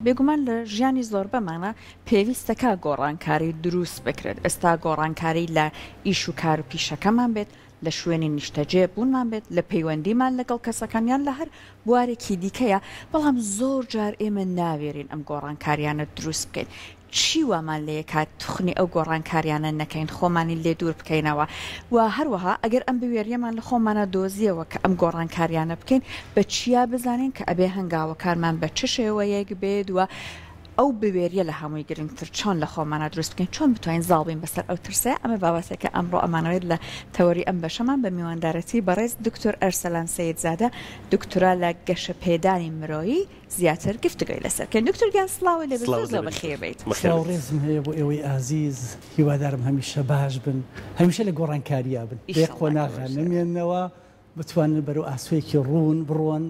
بێگومان لە ژیانی زۆربەمانا پێویستە کە گۆڕانکاری دروست بکرێت، ئێستا گۆڕانکاری لە ئیش و کار و پیشەکەمان بێت، لە شوێنی نیشتەجێ بوونمان بێت، لە پەیوەندیمان لەگەڵ کەسەکان یان لە هەر بوارێکی دیکەیە، بەڵام زۆر جار ئێمە ناوێرین ئەم گۆڕانکاریانە دروست بکەین، چی وامان لێکات توخنی ئەو گۆڕانکاریانە نەکەین خۆمانی لێ دوور بکەینەوە و هەروەها ئەگەر ئەم بوێریەمان لە خۆمانا دۆزیەوە کە ئەم گۆڕانکاریانە بکەین بە چیا بزانین کە ئەبێ هەنگاوەکانمان بە چ شێوەیەک بێت و ئەو بوێریە لە هەمووی گرنگتر چۆن لە خۆمانا دروست بکەین چۆن بتوانین زاڵ بین بەسەر ئەو ترسەیە ئەمە باوەسێکە ئەمڕۆ ئەمانەوێت لە تەوەری ئەم بەشەمان بە میواندارەتی بەڕێز دکتۆر ئەرسەلان سەیدزادە دکترا لە گەشەپێدانی مرۆیی زیاتر گفتوگۆی لەسەر بکەین دکتۆر گیان سڵاو لێبێت زۆر زۆر بەخێر بێیت. سڵاو ڕێزم هەیە بۆ ئێوەی ئازیز هیوادارم هەمیشە باش بن هەمیشە لە گۆڕانکاریا بن بێ قۆناغە نەمێنەوە بتوانن بەرەو ئاسۆیەکی ڕوون بڕۆن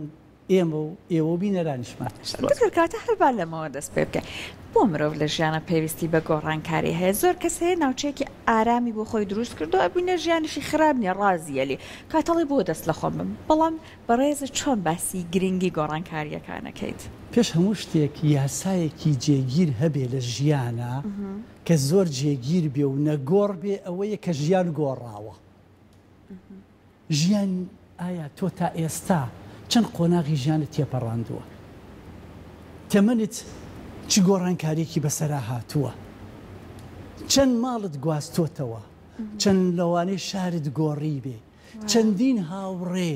ئێمە و ئێوە و بینەرانیشمان. دکتۆر کەواتە هەر با لەمەوە دەست پێ بکەین بۆ مرۆڤ لە ژیانا پێویستی بە گۆڕانکاری هەیە زۆر کەس هەیە ناوچەیەکی ئارامی بۆ خۆی دروست کردوە ئەبینە ژیانیشی خراپ نیە ڕازیە لێ کاتەڵی بۆ دەست لە خۆم بم بەڵام بەڕێز چۆن باسی گرنگی گۆڕانکاریەکانەکەیت؟ پێش هەموو شتێک یاسایەکی جێگیر هەبێ لە ژیانا کە زۆر جێگیر بێ و نەگۆڕ بێ ئەوەیە کە ژیان گۆڕاوە ژیان ئایا تۆ تا ئێستا چەند قۆناغی ژیانت تێپەڕاندووە؟ تەمەنت چ گۆڕانکاریەکی بەسەرا هاتووە؟ چەند ماڵت گواستۆتەوە؟ چەند لەوانەیە شارت گۆڕیبێ؟ چەندین هاوڕێ،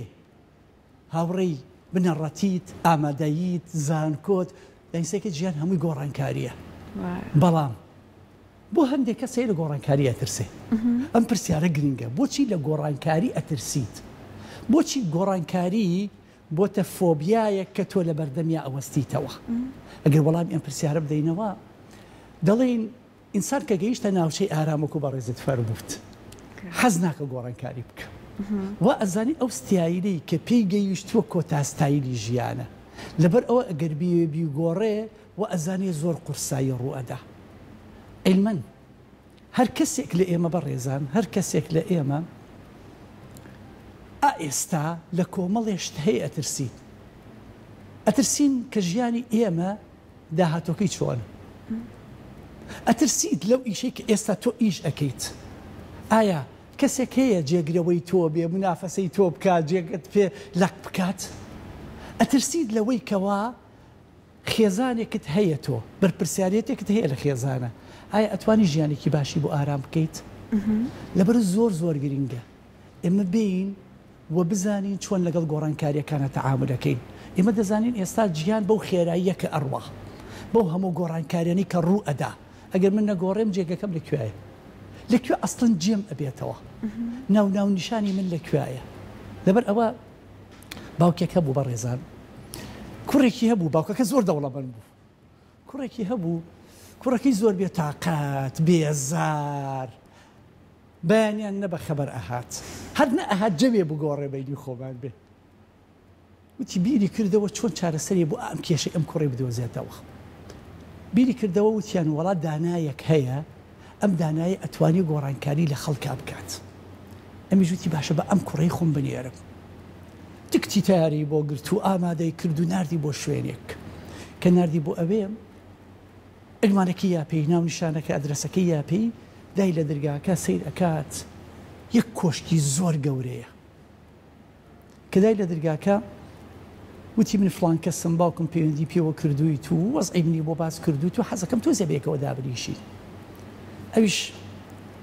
هاوڕێی بنەڕەتیت، ئامادەییت، زانکۆت، دەیسەکە جیان هەمووی گۆڕانکارییە. بەڵام بۆ هەندێک کەس هەیە لە گۆڕانکاری ئەترسێ. ئەم پرسیارە گرنگە، بۆچی لە گۆڕانکاری ئەترسیت؟ بۆچی گۆڕانکاری بۆتە فۆبیایەک کە تۆ لەبەردەمیا ئەوەستیتەوە؟ ئەگەر وەڵامی ئەم پرسیارە بدەینەوە، دەڵێین ئینسان کە گەیشتە ناوچەی ئارامەک و بەڕێزت فەرمووت حەز ناکە گۆڕانکاری بکە وا ئەزانی ئەو ستایلەی کە پێی گەیشتووە کۆتا ستایلی ژیانە لەبەر ئەوە ئەگەر بیەوێ بیگۆڕێ وا ئەزانێ زۆر قورسایی ڕوو ئەدا علمەن هەر کەسێک لە ئێمە بەڕێزان هەر کەسێک لە ئێمە ئا ئێستا لە کۆمەڵێ شت هەیە ئەترسین ئەترسین کە ژیانی ئێمە داهاتوەکەی چۆنە؟ ئەترسیت لەو ئیشەی کە ئێستا تۆ ئیش ئەکەیت؟ ئایا کەسێک هەیە جێگرەوەی تۆ بێ منافەسەی تۆ بکات جێگەت پێ لەق بکات؟ ئەترسیت لەوەی کەوا خێزانێکت هەیە تۆ بەرپرسیارێتێکت هەیە لە خێزانە؟ ئایا ئەتوانی ژیانێکی باشی بۆ ئارام بکەیت؟ لەبەر زۆر زۆر گرینگە. ئێمە بێین و بزانین چۆن لەگەڵ گۆڕانکارییەکانە تەعامول ئەکەین. ئێمە دەزانین ئێستا جیهان بەو خێراییە کە ئەڕوا، بەو هەموو گۆڕانکارییانەی کە ڕوو ئەدا، ئەگەر من نەگۆڕێم جێگەکەم لە کوێیە؟ لە کوێ ئەسڵەن جێم ئەبێتەوە؟ ناو ناونیشانی من لە کوێیە؟ لەبەر ئەوە باوکێک هەبوو بەڕێزان، کوڕێکی هەبوو، باوکەکە زۆر دەوڵەمەند بوو، کوڕێکی هەبوو، کوڕەکەی زۆر بێتاقەت، بێزار، بەیانیان نە بە خەبەر ئەهات هەر نە ئەهات جەوێ بگۆڕێ بەینی خۆمان بێ وتی بیری کردەوە چۆن چارەسەرێ بۆ ئەم کێشەی ئەم کوڕەی بدۆزێتەوە بیری کردەوە وتیان وەڵا دانایەک هەیە ئەم دانایە ئەتوانی گۆڕانکاری لە خەڵکا بکات ئەمی ژوتی باشە بە ئەم کوڕەی خۆم بنێرم تکتی تاری بۆ گرت و ئامادەی کرد و نردی بۆ شوێنێک کە نردی بۆ ئەوێ عنوانەکەی یاپێی ناونیشانەکە ئەدرەسەکەی یاپێی دای لە درگاکە سەیر ئەکات یەک کۆشکی زۆر گەورەیە کە دای لە درگاکە وتی من فڵان کەسم باوکم پەیوەندی پێوە کردووی تو وەزعی منی بۆ باس کردو تو حەزەکەم تۆزێ بەیەکەوە دابنیشین ئەویش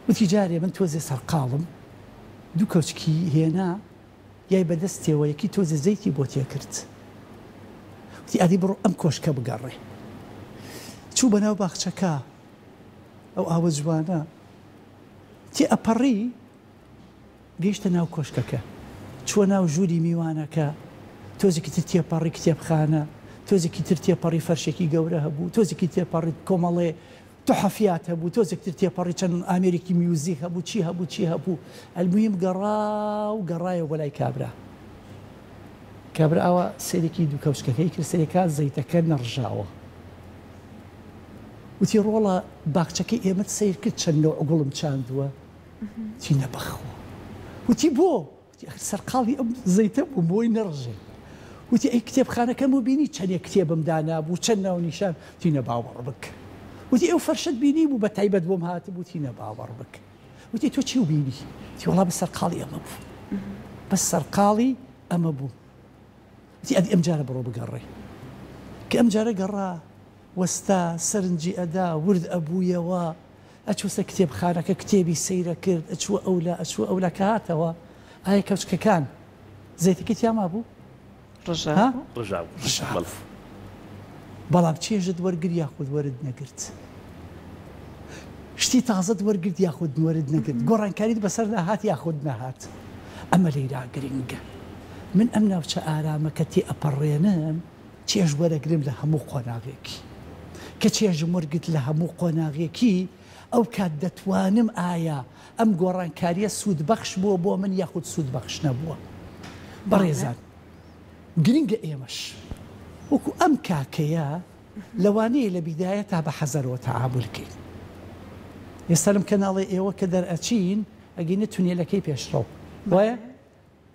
وتی جارێ من تۆزێ سەرقاڵم دوو کۆچکی هێنا گیای بەدەست تێوە یەکی تۆزێ زەیتی بۆ تێکرد وتی ئەدی بڕۆ ئەم کۆشکە بگەڕێ چوو بەناو باخچەکە ئەو ئاوە جوانە تێ ئەپەڕی گەیشتە ناو کۆشکەکە چووە ناو ژووری میوانەکە تۆزێکی تر تێپەڕی کتێبخانە تۆزێکی تر تێپەڕی فەرشێکی گەورە هەبوو تۆزێکی تێپەڕی کۆمەڵێ تحفیات هەبوو تۆزێک تر تێپەڕی چەند ئامێرێکی میوزیک هەبوو چی هەبوو چی هەبوو الموهیم گەڕا و گەڕایەوە بۆ لای کابرا کابرا ئاوا سەیرێکی دوو کەوچکەکەی کرد سەیرێ کا زەیتەکە نەڕژاوە وتی ڕۆڵە باخچەکەی ئێمەت سەیر کرد چەند نەوع گوڵم چاندووە تی نەبەخۆ وتی بۆ؟ سەرقاڵی ئەم زەیتە بووم بۆی نەڕژێ وتی ئەی کتێبخانەکەم و بینی چەنێ کتێبم دانابوو چەن ناونیشان وتی نەباوەڕ بک وتی ئەو فەرشەت بینی بوو بە تایبەت بۆم هات بووتی نەباوەڕ بک وتی تۆ چی و بینی تی وڵا بە سەرقاڵی ئەمە بوو بە سەرقاڵی ئەمە بوو وتی ئەدی ئەم جارە بڕۆ بگەڕێ کە ئەم جارە گەڕا وەستا سەرنجی ئەدا ورد ئەبوویەوە ئەچووسە کتێبخانەکە کتێبی سەیر ئەکرد ئەچووە ئەولا ئەچووە ئەولا کە هاتەوە ئایا کەوچکەکان زەیتەکەی تیا مابوو؟ ڕژا ها؟ بوو ڕژا بوو ڕژا بەڵێ بوو بەڵام چێژت وەرگر یاخود وەرت نەگرت؟ شتی تازەت وەرگرت یاخود وەرت نەگرت؟ گۆڕانکاریت بەسەردا هات یاخود نەهات؟ ئەمە لێیرا گرینگە من ئەم ناوچە ئارامە کە تێئەپەڕێنم، چێژ وەرەگرم لە هەموو قۆناغێکی. کە چێژم وەرگرت لە هەموو قۆناغێکی، ئەو کات دەتوانم ئایا ئەم گۆڕانکارییە سوودبەخش بووە بۆ من یاخود سوودبەخش نەبووە. بەڕێزان گرنگە ئێمەش وەکو ئەم کاکەیە لەوانەیە لە بیدایەتا بە حەزەرەوە تەعامول کەین. ئێستا لەم کەناڵی ئێوە کە دەرئەچین ئەگەینە تونێلەکەی پێشڕەو. وایە؟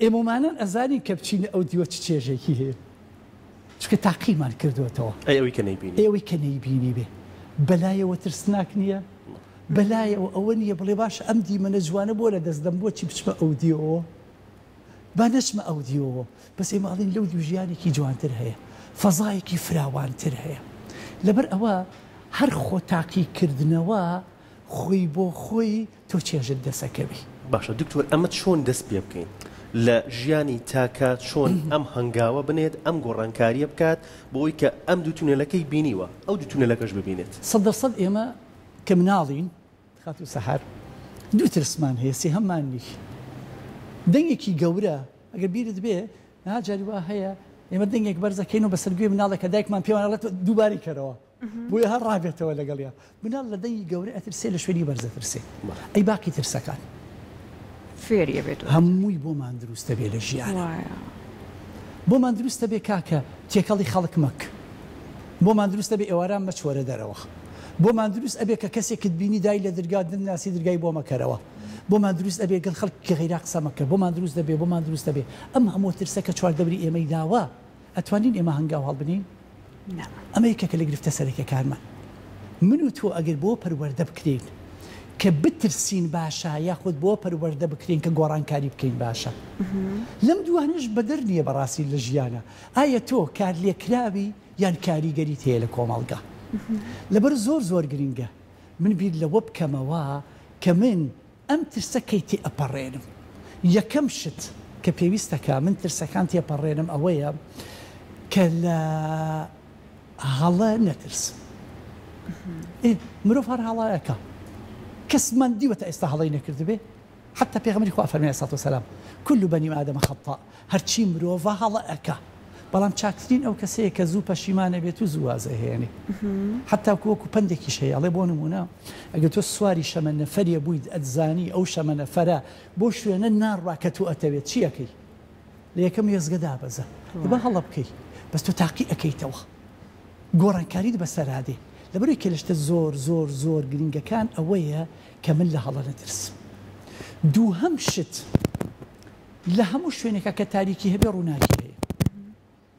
ئێمەمانان ئەزانین کە بچینە ئەو دیوە چ چێژێکی هەیە چونکە تاقیمان کردووەتەوە. ئەی ئەوی کە نەیبینی؟ ئەی ئەوی کە نەیبینیبێ بەلایەوە ترسناک نییە؟ بەلایەوە ئەوە نییە بڵێ باشە ئەم دیمەنە جوانە بۆ لە دەست دەم بۆچی بچمە ئەو دیوەوە؟ با نەچمە ئەو دیوەوە. بەس ئێمە ئەڵێین لەو دیو ژیانێکی جوانتر هەیە. فەزایەکی فراوانتر هەیە. لەبەر ئەوە هەر خۆ تاقیکردنەوە، خۆی بۆ خۆی تۆ چێژت دەسەکەوی. باشە دکتۆر ئەمە چۆن دەست پێ بکەین لە ژیانی تاکە چۆن ئەم هەنگاوە بنێت ئەم گۆڕانکاریە بکات بۆ ئەوی کە ئەم دوو تونێلەکەی بینیوە ئەو دوو تونێلەکەش ببینێت. سەد دەر سەد ئێمە کە مناڵین خاتوو سەحەر دوو ترسمان هەیە سێهەممان نی دەنگێکی گەورە ئەگەر بیرت بێ نا جاری وا هەیە ئێمە دەنگێک بەرزەکەین و بەسەر گوێی مناڵێکە دایکمان پێمان ئەڵێت دووبارەی کەرەوە بۆیە هەر ڕابێتەوە لەگەڵیا. مناڵ لە دەنگی گەورە ئەترسێ لە شوێنی بەرز ئەترسێ ئەی باقی ترسەکان. فێری ئەبێت وایە. هەمووی بۆمان دروستە بێ لە ژیانا. وایە. بۆمان دروستە بێ کاکە تێکەڵی خەڵک مەک. بۆمان دروستە بێ ئێواران مەچۆرە دەرەوە. بۆمان دروست ئەبێ کە کەسێکت بینی دای لە درگا دن ناسی درگای بۆ مەکەرەوە. بۆمان دروست ئەبێ گەڵ خەڵکێکی غەیرا قسە مەکە. بۆمان دروست دەبێ بۆمان دروست دەبێ ئەم هەمووە ترسە کە چواردەوری ئێمەی داوە. ئەتوانین ئێمە هەنگاو هەڵبنێین؟ نا. ئەمە یەکێکە لە گرفتە سەرەکیەکانمان. من و تۆ ئەگەر بەوە پەروەردە بکرێین کە بترسین باشە یاخود بەوە پەروەردە بکرێین کە گۆڕانکاری بکەین باشە؟ لەم دووانەش بەدەر نییە بەڕاستی لە ژیانا. ئایا تۆ کارلێکراوی یان کاریگەریت هەیە لە کۆمەڵگا؟ لەبەر زۆر زۆر گرنگە من بیر لەوە بکەمەوە کە من ئەم ترسە کەی تێئەپەڕێنم؟ یەکەم شت کە پێویستە کە من ترسەکان تێپەڕێنم ئەوەیە کە لە هەڵە نەترسم ئێ مرۆڤ هەر هەڵە ئەکا کەسمان دیوە تا ئێستا هەڵەی نەکردبێ حتی پێغەمبەری خوا فەرمی علیه الصلوة والسلام کل بنی آدم خطاء هەرچی مرۆڤە هەڵە ئەکا بەڵام چاکترین ئەو کەسەیە کە زوو پەشیمان ئەبێت و زوو واز ئەهێنێ حەتاکو وەکو پەندێکیش هەیە ئەڵێ بۆ نمونە ئەگەر تۆ سواری شەمەندەفەرێ بوویت ئەتزانی ئەو شەمەنەفەرە بۆ شوێنە ناڕوا کە تۆ ئەتەوێت چی ئەکەی لە یەکەم وێستگە دابەزە ئێ با هەڵە بکەی بەس تۆ تاقی ئەکەیتەوە گۆڕانکاریت بەسەرا دێ لەبەرئەوەی کە لە شتە زۆر زۆر زۆر گرنگەکان ئەوەیە کە من لە هەڵە نەترسم دووهەم شت لە هەموو شوێنێکە کە تاریکی هەبێ ڕووناکی هەیە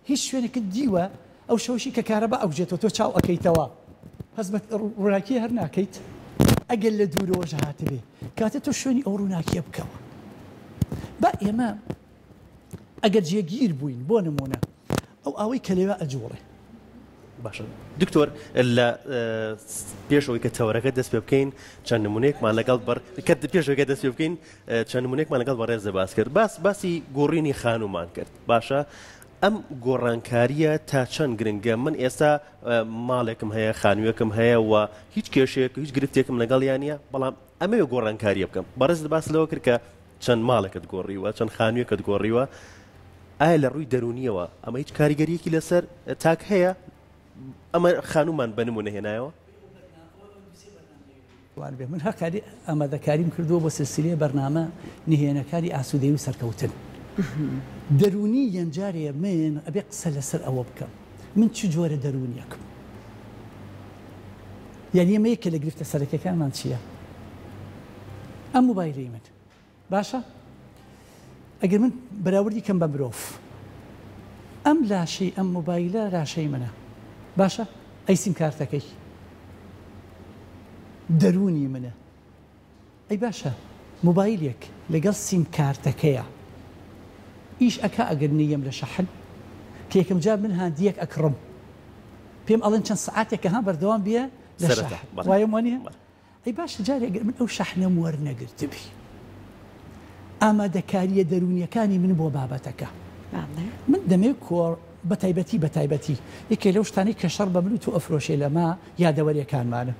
هیچ شوێنێکت دیوە ئەو شەوشی کە کارە بە ئەوجێتەوە تۆ چاو ئەەکەیتەوە هەز بە ڕووناکی هەر ناکەیت ئەگەر لە دوورەوەش هاتبێ کاتە تۆ شوێنی ئەو ڕووناکیە بکەوە بە ئێمە ئەگەر جێگیر بووین بۆ نمونە ئەو ئاوەی کە لەوێ ئەجوڵێ. باشە دکتۆر لە پێشەوەی کە تەوەرەکە دەست پێ بکەین چەند نمونێکمان لەگەڵ بەر کە پێشەکە دەست پێ بکەین چەند نمونێکمان لەگەڵ بەڕێزە باس کرد باس باسی گۆڕینی خانومان کرد باشە ئەم گۆڕانکاریە تا چەند گرنگە من ئێستا ماڵێکم هەیە خانوویەکم هەیە و هیچ کێشێک هیچ گرفتێکم لەگەڵ یانە بەڵام ئەمەوێ گۆڕانکاریە بکەم بەڕێز باس لەوە کرد کە چەند ماڵێکت گۆڕیوە؟ چەند خانوویەکت گۆڕیوە؟ ئایا لە ڕووی دەروونیەوە ئەمە هیچ کاریگەریەکی لەسەر تاک هەیە؟ ئەمە خانومان بە نمونە هێنایەوە؟ وان بێ من هەقاری ئامادەکاریم کردووە بۆ سلسلەیە بەرنامە نهێنەکانی ئاسوودەی و سەرکەوتن دەرونی یەنجارێ من ئەبێ قسە لەسەر ئەوە بکەم من چ جۆرە دەروونیەکم؟ یانی ئەمە یەکێ لە گرفتە سەرەکیەکانمان چییە؟ ئەم موبایلەی من باشە ئەگەر من بەراوردی کەم بە مرۆڤ ئەم لاشەی ئەم موبایلە لاشەی منە باشە ئەی سیمکارتەکەی دەروونی منە ئەی باشە موبایلێک لەگەڵ سیم کارتەکەیا ئیش ئەکا ئەگەر نەیەم لە شەحن کە یەکەم جار من هاندیەک ئەکڕم پێم ئەڵێن چەند سەعاتێکە ها بەردەوام بیە لە شەحن وایم وانە ئەی باشە جارێک ئەگەر من ئەو شەحنەم وەرنەگرتبی ئامادەکاریە دەرونیەکانی من بۆ بابەتەکە من دەمێ کۆڕ بە تایبەتی بە تایبەتی یەکێ لەو شتانی کە شەڕ بە من و تۆ ئەفرۆشێ لەمە یادەوەریەکانمانە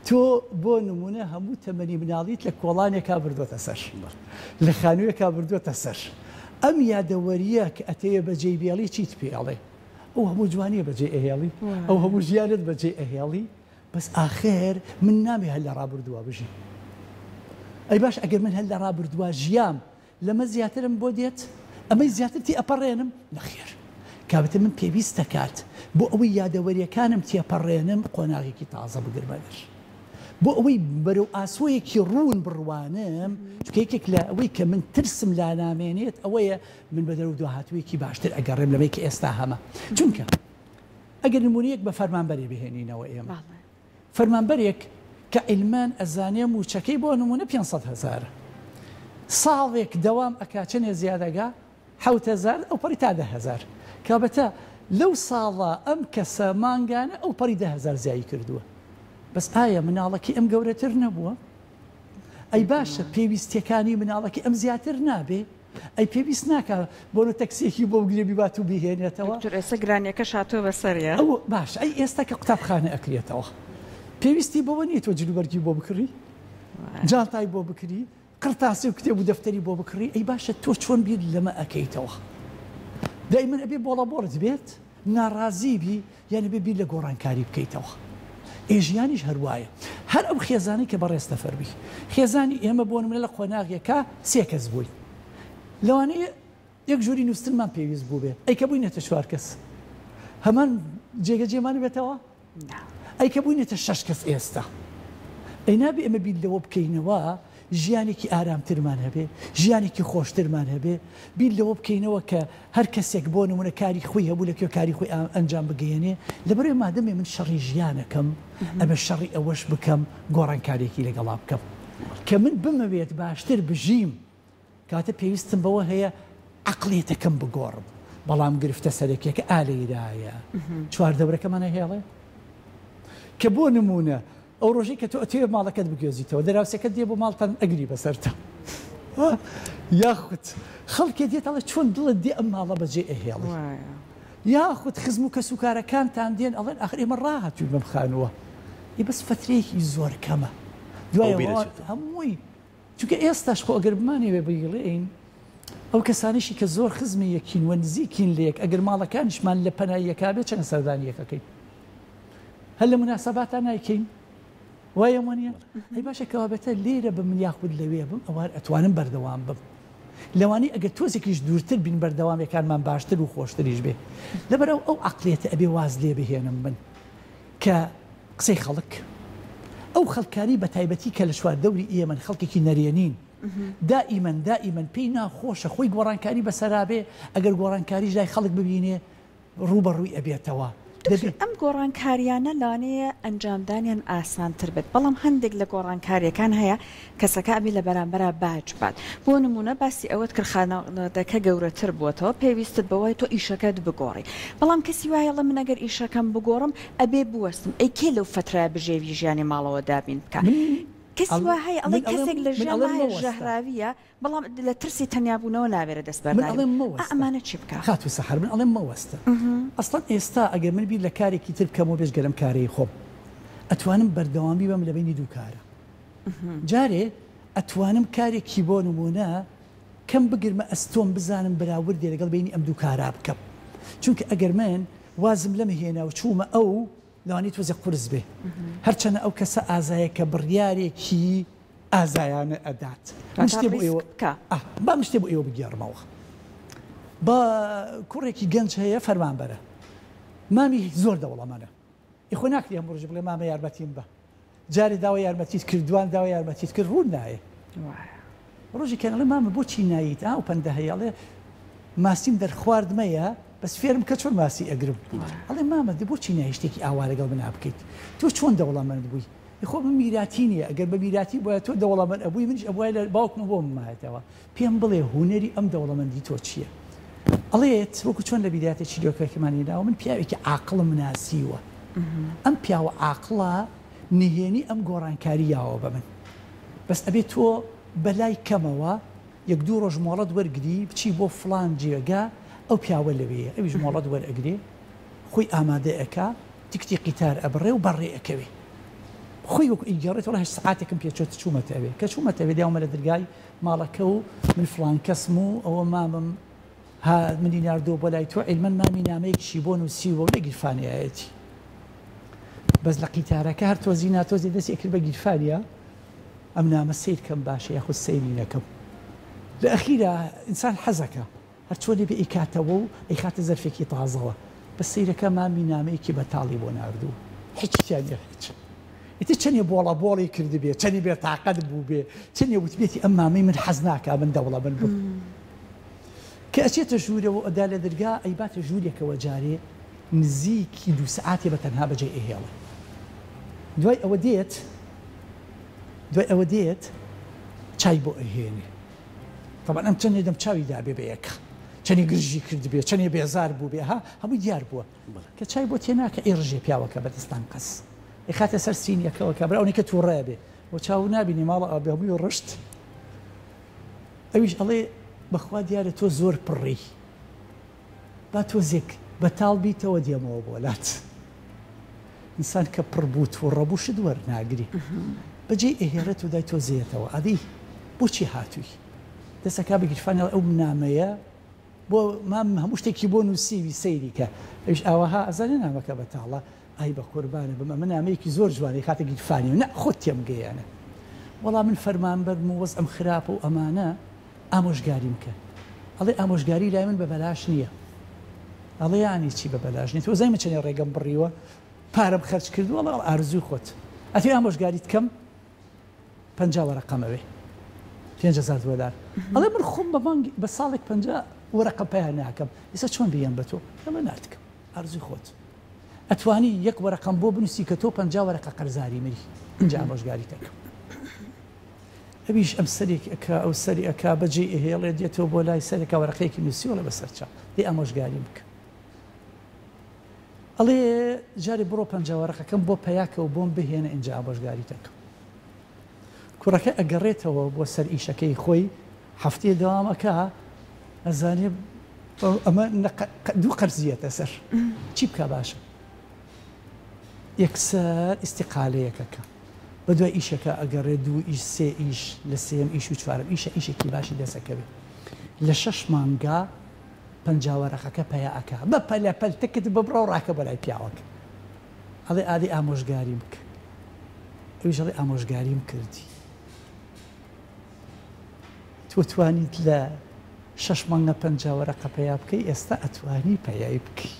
تۆ بۆ نمونە هەموو تەمەنی مناڵیت لە کۆڵانێکا بردۆتە سەر لە خانوویەکا بردۆتە سەر ئەم یادەوەریە کە ئەتەوێ بەجێی بێڵی چیت پێ ئەڵێ ئەو هەموو جوانی بەجێ ئەهێڵی ئەو هەموو ژیانت بەجێ ئەهێڵی بەس ئاخر من نامێ هەر لە ڕابردووە بژی ئەی باش ئەگەر من هەر لە ڕابردووە ژیام لەمە زیاترم بۆ دێت؟ ئەمەی زیاتر تێئەپەڕێنم؟ نەخێر. کابتن من پێویست دەکات بۆ ئەوەی یادەوەریەکانم تێپەڕێنم قۆناغێکی تازە بگرمە بەر. بۆ ئەوەی بەرەو ئاسۆیەکی ڕوون بڕوانم، چونکە یەکێک لە ئەوەی کە من ترسم لا نامێنێت ئەوەیە من بە دەرەوە دواهاتوویەکی باشتر ئەگەڕێم لەمەی کە ئێستا هەمە. چونکە ئەگەر نموونەیەک بە فەرمانبەرێ بهێنینەوە ئێمە. فەرمانبەرێک کە عیلمان ئەزانێ مووچەکەی بۆ نموونە پێنج سەد هەزارە ساڵێک دەوام ئەکا چەنێ زیادەگا حەوت هەزار ئەوپەڕی تا دە هەزار کابەتە لەو ساڵە ئەم کەسە مانگانە ئەوپەڕی دە هەزار زیایی کردووە بەس ئایا مناڵەکەی ئەم گەورەتر نەبووە ئەی باشە پێویستیەکانی مناڵەکەی ئەم زیاتر نابێ؟ ئەی پێویست ناکا بۆنە تەکسیەکی بۆ بگرێ بیبات و بیهێنێتەوە. دکتۆر ئێستا گرانیەکەش هاتوە بەسەریا. ئەو باشە ئەی ئێستا کە قوتابخانە ئەکرێتەوە پێویستی بەوە نیە تۆ جلوبەرگی بۆ بکڕی جانتای بۆ بکری قڕتاسی و کتێب و دەفتەری بۆ بکڕی ئەی باشە تۆ چۆن بیر لەمە ئەکەیتەوە دای من ئەبێ بۆڵە بۆڵت بێت؟ ناڕازی بی یان ئەبێ بیر لە گۆڕانکاری بکەیتەوە ئێ ژیانیش هەر وایە هەر ئەو خێزانەی کە بەڕێز تەفەر بی خێزانی ئێمە بۆ نمونە لە قۆناغێکا سێ کەس بووین لەوانەیە یەک جۆری نووستنمان پێویست بووبێ ئەی کە بووینەتە چوار کەس هەمان جێگەجێمان بێتەوە؟ نا. ئەی کە بووینەتە شەش کەس ئێستا؟ ئەی نابێ ئێمە بیر لەوە بکەینەوە ژیانێکی ئارامترمان هەبێ، ژیانێکی خۆشترمان هەبێ، بیر لەوە بکەینەوە کە هەر کەسێک بۆ نموونە کاری خۆی هەبوو لە کوێ کاری خۆی ئەنجام بگەیەنێ، لەبەرئەوەی مادەمێ من شەڕی ژیانەکەم ئەبێ شەڕی ئەوەش بکەم گۆڕانکارییەکی لەگەڵا بکەم کە من بمەوێت باشتر بژیم، کاتێ پێویستم بەوە هەیە عەقڵیەتەکەم بگۆڕم، بەڵام گرفتە سەرەکیەکە ئا لێیرایە چواردەورەکەمان ئەهێڵێ؟ کە بۆ نموونە ئەو ڕۆژەی کە تۆ ئەتەوێ ماڵەکەت بگوێزیتەوە دراوسێکەت دێ بۆ ماڵتان ئەگری بەسەرتا یاخود خەڵکێ دێت ئەڵێ چۆن دڵت دێ ئەم ماڵە بەجێ ئەهێڵی یاخود خزم و کەسوکارەکانتان دێن ئەڵێن ئاخر ئێمە ڕاهاتووین بەم خانووە ئی بەس فەترەیەکی زۆر کەمە دوای هەمووی چونکە ئێستاش خۆ ئەگەر بمانەوێت بگلێین ئەو کەسانەشی کە زۆر خزمی یەکین و نزیکین لە یەک ئەگەر ماڵەکانیشمان لە پەنای یەکا بێت چەنە سەردانی یەکەکەین هەر لە مناسەباتا نایکەین وایە وانە هەی باشە کەوابێتە لێرە بم یاخود لەوێ بم ئەوار ئەتوانم بەردەوام بم لەوانی ئەگەر تۆزێکیش دوورتر بین بەردەوامەکانمان باشتر و خۆشتریش بێ لەبەرەو ئەو عقلێتە ئەبێ واز لێ بهێنم من کە قسەی خەڵک، ئەو خەڵکانەی بەتایبەتی کە لە چواردەوری ئێمەن، خەڵکێکی نەرێنین، دائیمەن دائیمەن پێی ناخۆشە خۆی گۆڕانکاری بەسەرا بێ، ئەگەر گۆڕانکاریش لای خەڵک ببینێ ڕووبەڕووی ئەبێتەوە. دەبێ. دکتۆر ئەم گۆڕانکاریانە لەوانەیە ئەنجامدانیان ئاسانتر بێت، بەڵام هەندێک لە گۆڕانکارییەکان هەیە کەسەکە ئەبێ لە بەرامبەرا باج بات بۆ نمونە باسی ئەوەت کرد خانەوادەکە گەورەتر بوەتەوە پێویستت بەوەیە تۆ ئیشەکەت بگۆڕی بەڵام کەسی وایە ئەڵێ من ئەگەر ئیشەکەم بگۆڕم ئەبێ بوەستم ئەی کێ لەو فەترەیە بژێوی ژیانی ماڵەوە دابین بکا کەسی وا هەیە ئەڵێ کەسێک لە ژیان وایە ژەهراویە بەڵام لە ترسی تەنیابونەوە ناوێرە دەست بەرداری بکا ئەمانە چی بکا؟ خاتو سەحەر من ئەڵێم مەوەستە ئەسڵەن ئێستا ئەگەر من بیر لە کارێکی تر بکەمەوە بێجگە لەم کارەی خۆم ئەتوانم بەردەوامی بەم لە بەینی دوو کارە جارێ ئەتوانم کارێکی بۆ نموونە کەم بگرمە ئەستۆم بزانم بەراوردێ لەگەڵ بەینی ئەم دوو کارا بکەم چونکە ئەگەر من وازم لەمە هێنا و چوومە ئەو لەوانی تۆزێ قورس بێ هەرچەنە ئەو کەسە ئازایە کە بڕیارێکی ئازایانە ئەدات با مشتێ بۆ ئێوە بگێڕمەوە با کوڕێکی گەنج هەیە فەرمان بەرە مامی زۆر دەوڵەمەە ئیخۆ ناکری هەم ڕژ بڵێ مامە یارمەتیم بە جارێ داوای یارمەتیت کرد دوان داوای یارمەتیت کرد ڕوون نایێ وایە ڕۆژێکیان ئەڵێ مامە بۆچی ناییت ئاو پەندە هەیە ئەڵێ ماسیم دەرخوارد مەیە بەس فێرم کە چۆن ماسی ئەگرم ئەڵێ مامە دە بۆچی نایێ شتێکی ئاوا لەگەڵ منا بکەیت تۆ چۆن دەوڵەمەند بووی خۆ من میراتی نییە ئەگەر بە میراتی بۆیە تۆ دەوڵەمەند ئەبووی منیش ئەبووای لە باوکمە بۆ ممایەتەوە پێم بڵێ هونەری ئەم دەوڵەمەندی تۆ چیە؟ ئەڵێت وەکو چۆن لە بیداتێکی دۆکەکەمان هێناوە من پیاوێکی عاقڵم ناسیوە ئەم پیاوە عاقڵە نهێنی ئەم گۆڕانکاری یاوە بە من بەس ئەبێ تۆ بە لای کەمەوە یەک دوو ڕۆژ مۆڵەت وەرگری بچی بۆ فڵان جێگە ئەو پیاوە لەوێیە ئەویش مۆڵەت وەرئەگرێ خۆی ئامادە ئەکا تکتی قیتار ئەبڕێ و بەڕێ ئەکەوێ خۆی وەکو ئیگەڕێت وڵا هەشت سەعاتێکم پێ چۆت چوومەتەوێ کە چوومەتەوێ دێومە لە درگای ماڵەکە و من فڵان کەسم و ئەوە مامم ها منی ناردووە بۆ لای تۆ عیلمەن مامی نامەیەکیشی بۆ نووسیوە و لە گیرفانیایەتی بەس لە قیتارەکە هەر تۆزی ناتۆزی دەستی کرد بە گیرفانیا ئەم نامە سەیرکەم باشە یاخود سەیری نەکەم لە ئەخیرا ئینسان حەزەکە هەر چۆنێک بێ ئەیکاتەوە و ئەیخاتە زەرفێکی تازەوە. بەس سەیرەکە مامی نامەیەکی بەتاڵی بۆ ناردووە. هیچی تیا نیە هیچ. ئیتر چەنێ بۆڵە بۆڵی کردبێ، چەنێ بێ تاقەت بووبێ، چەنێ وتبێتی ئەم مامەی من حەز ناکا من دەوڵەمەند بم. کە ئەچێتە ژوورەوە و ئەدا لە دەرگا ئەیباتە ژوورێکەوە جارێ نزیکی دوو سەعاتێ بە تەنها بەجێ ئەیهێڵێ. دوای ئەوە دێت دوای ئەوە دێت چای بۆ ئەهێنێ. تەبعەن ئەم چەنێ دەم چاوی دابێ بە یەک چەنێ گرژی کردبێ چەنێ بێزار بووبێ ها هەمووی دیار بووە کە چای بۆ تێناکە ئەی ڕژێ پیاوەکە بەدەستان قەس ئەیخاتە سەر سینیەکەوە کە برا ئەونەی کە تووڕە بێ بۆ چاو نابینی ماڵە ئەبێ هەمووی ڕشت ئەویش ئەڵێ بەخوا دیارە تۆ زۆر پڕی با تۆزێک بەتاڵ بیتەوە دێمەوە بۆ لات انسان کە پڕ بوو توڕە بوو شت وەرناگری بەجێی ئەهێڵێت و دای تۆزێتەوە ئەدی بۆچی هاتووی دەست ئەکا بە گیرفانی ئەڵێ ئەو نامەیە بۆ مام هەموو شتێکی بۆ نووسیوی سەیری کە ئەویش ئاوەها ئەزانێ نامەکە بەتاڵە ئای بە قوربانە بم ئەمە نامەیەکی زۆر جوانە ئەخاتە گیرفانی و نا خۆت تێمگەیەنە وەڵا من فەرمانبەرم و وەزعم خراپە و ئەمانە ئامۆژگاریم کە ئەڵێ ئامۆژگاری لای من بەبەلاش نییە ئەڵێ یانی چی بەبەلاش نیت وەزای من چەنێ ڕێگەم بڕیوە پارەم خەرج کردو ئەڵێ ئارزوی خۆت ئەتوێ ئامۆژگاریت کەم پەنج وەرەقەمەوێ پێنج هەزار دۆلار ئەڵێ من خۆم بە مانگ بە ساڵێک پەنج وەرەقە پیا ناکەم ئیسە چۆن بیان بە تۆ ئەمە ناتکەم ئارزوی خۆت ئەتوانی یەک وەرەقەم بۆ بنووسی کە تۆ پەنج وەرەقە قەرزاری منی اینجا ئامۆژگاریتەکەم ئەویش ئەم سەرێکی ئەکا ئەو سەری ئەکا بەجێی ئەهێڵێ دێتەوە بۆ لای سەرێکا وەرەقەیەکی نووسی ئەڵێ بەسەر چاو دەی ئامۆژگاریم بکە ئەڵێ جارێ بڕۆ پەنجا وەرەقەکەم بۆ پەیاکەوە بۆم بهێنە ئینجا ئامۆژگاریت ئەکەم کوڕەکە ئەگەڕێتەوە بۆ سەر ئیشەکەی خۆی هەفتەیە دەوام ئەکا ئەزانێ ئەمە دوو قەرزیەتە سەر چی بکا باشە یەکسەر ئیستیقالەیەکە کە بەدوای ئیشەکە ئەگەڕێ دوو ئیش سێ ئیش لە سێیەم ئیش و چوارەم ئیشە ئیشێکی باشی دەست ئەکەوێ لە شەش مانگا پەنجا وەرەقەکە پەیا ئەکا بە پەلە پەل تکت ببڕە و ڕاکە بۆ لای پیاوەکە ئەڵێ ئادەی ئامۆژگاریم بکە ئەویش ئەڵێ ئامۆژگاریم کردی تۆ توانیت لە شەش مانگە پەنجا وەرەقە پەیا بکەی ئێستا ئەتوانی پەیای بکەی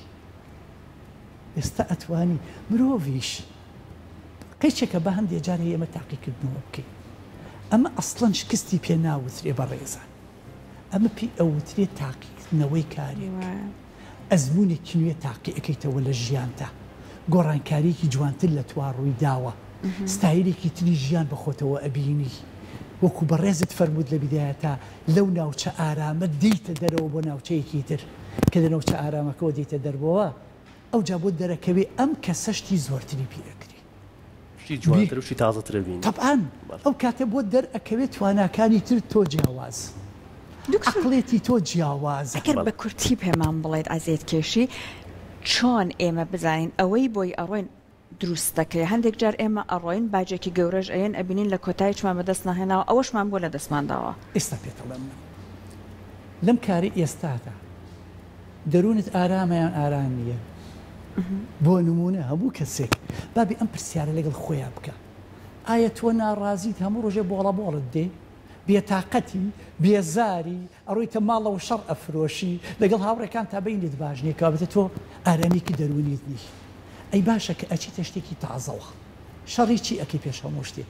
ئێستا ئەتوانی مرۆڤیش قیچێکە با هەندێ جار ئێمە تاقیکردنەوە بکەین ئەمە ئەسڵەن شکستی پێ ناوترێ بەڕێزان ئەمە پێی ئەوترێ تاقیکردنەوەی کارێک ئەزمونێکی نوێ تاقی ئەکەیتەوە لە ژیانتا گۆڕانکاریەکی جوانتر لە توا ڕووی داوە ستایلێکی تری ژیان بە خۆتەوە ئەبینی وەکو بەڕێزت فەرمووت لە بیدایەتا لەو ناوچە ئارامە دێیتە دەرەوە بۆ ناوچەیەکی تر، کە لە ناوچە ئارامەکەوە دێیتە دەرەوە ئەوجا بۆ دەرەکەوێ ئەم کەسە شتی زۆرتری پێ ئەکری. شتی جوانتر و شتی تازەتر ئەبینی. تەبعەن ئەو کاتە بۆ دەرئەکەوێ تواناکانی تر تۆ جیاوازن، عەقڵێتی تۆ جیاوازە. ئەگەر بە کورتی پێمان بڵێیت عەزێتکێشی چۆن ئێمە بزانین ئەوەی بۆی ئەڕۆین، دروست دەکرێ هەندێک جار ئێمە ئەڕۆین باجێکی گەورەش ئەیەن ئەبینین لە کۆتایی چمان بەدەست نەهێناوە ئەوەشمان بۆ لە دەستمان داوە. ئێستا پێت ئەڵێم من لەم کارەی ئێستادا دەروونت ئارامە یان ئارام نییە؟ بۆ نموونە هەموو کەسێک با بێ ئەم پرسیارە لەگەڵ خۆیا بکا ئایا تۆ ناڕازیت هەموو ڕۆژێ بۆڵە بۆڵت دێ؟ بێتاقەتی، بێزاری، ئەڕۆیتە ماڵ و شەڕ ئەفرۆشی، لەگەڵ هاوڕێکانتا بەینت باش نیە، کەوابێتە تۆ ئارامیکی دەروونیت نیە. ئەی باشە کە ئەچیتە شتێکی تازەوە، شەڕی چی ئەکەی پێش هەموو شتێ؟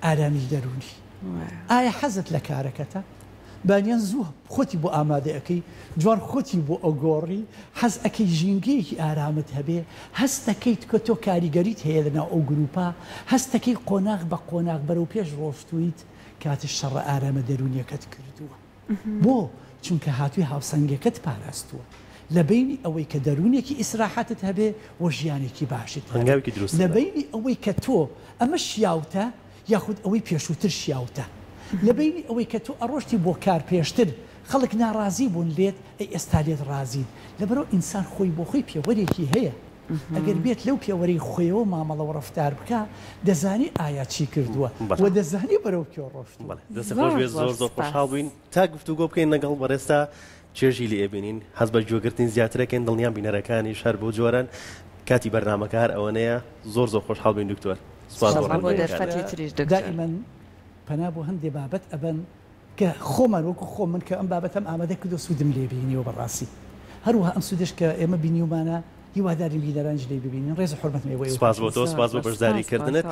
ئارامی دەروونی. ئایا حەزت لە کارەکەتە؟ بانیان زوو خۆتی بۆ ئامادە ئەکەی، جوان خۆتی بۆ ئەگۆڕی، حەز ئەکەی ژینگەیەکی ئارامت هەبێ، هەست دەکەیت کە تۆ کاریگەریت هەیە لەناو ئەو گرووپە، هەست دەکەیت قۆناغ بە قۆناغ بەرەو پێش ڕۆشتوویت، کاتت شەڕە ئارامە دەروونییەکەت کردووە. بۆ؟ چونکە هاتووی هاوسەنگەکەت پاراستووە، لە بەینی ئەوەی کە دەروونێکی ئیسراحەتت هەبێ و ژیانێکی باشت هەبێ، لە بەینی ئەوەی کە تۆ ئەمە شیاوتە، یاخود ئەوەی پێشووتر شیاوتە؟ لە بەینی ئەوەی کە تۆ ئەڕۆشتی بۆ کار پێشتر خەڵک ناڕازی بوون لێت ئەی ئێستا لێت ڕازین؟ لەبەرئەوە ئینسان خۆی بۆ خۆی پێوەرێکی هەیە ئەگەر بێت لەو پێوەرەی خۆیەوە مامەڵە و ڕەفتار بکا دەزانێ ئایا چی کردووە و دەزانێ بەرەو کوێ ڕۆشتووە. بەڵێ دەستت خۆش بێت زۆر زۆر خۆشحاڵ بووین تا گفتوگۆ بکەین لەگەڵ بەڕێزتا چێژی لێ ئەبینین حەز بە گوێ گرتنی زیاتر ئەکەین دڵنیام بینەرەکانیش هەر بەو جۆرەن کاتی بەرنامەکە هەر ئەوەنەیە زۆر زۆر خۆشحاڵ بووین دکتۆر سوپاس بۆ سوپاس بۆ ڕێنمایی کانت. دەرفەتی تریش دکتۆر. دائیما پەنا بۆ هەندێ بابەت ئەبەن کە خۆمان وەکو خۆم من کە ئەم بابەتەم ئامادە کردوە سودم لێ بینیوە بەڕاستی هەروەها ئەم سودەش کە ئێمە بینیومانە هیوادارین بینەرانیش لێی ببینن ڕێز و حورمەتم ئێوەی سوپاس بۆ تۆ سوپاس بۆ بەشداری سوپاس کردنت.